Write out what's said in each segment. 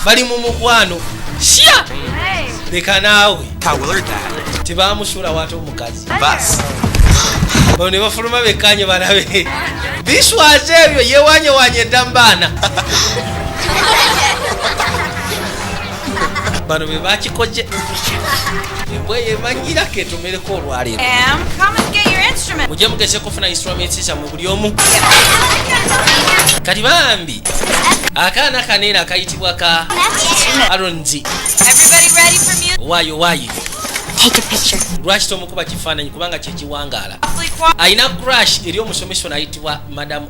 bali mu mukwano sya leka naawe tebamusuula wate omukazi ono ne bafuluma bekkanye balabe biswaza ebyo yewanyewanya edda mu baana bano be bakikoze embwa yemanyiira ketumereko olwaleero mujje mugeze kufuna instruments zammwe buli omu kati bambi akaana kaneera akayitibwa ka aronzi wayo wayi lwaki tomukuba kifaananyi kubanga kyekiwangaala alina crash eri omusomesa onayitibwa madamu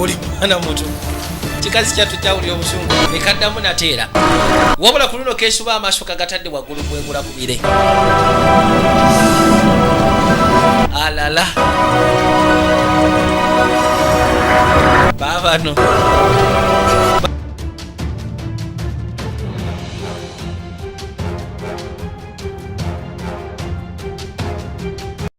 oli mwana muto kikazi kyattu kyawulira obusungu nekaddamu nateera wabula ku luno kesuba amaaso kagatadde waggulu kwegula ku bire alala babano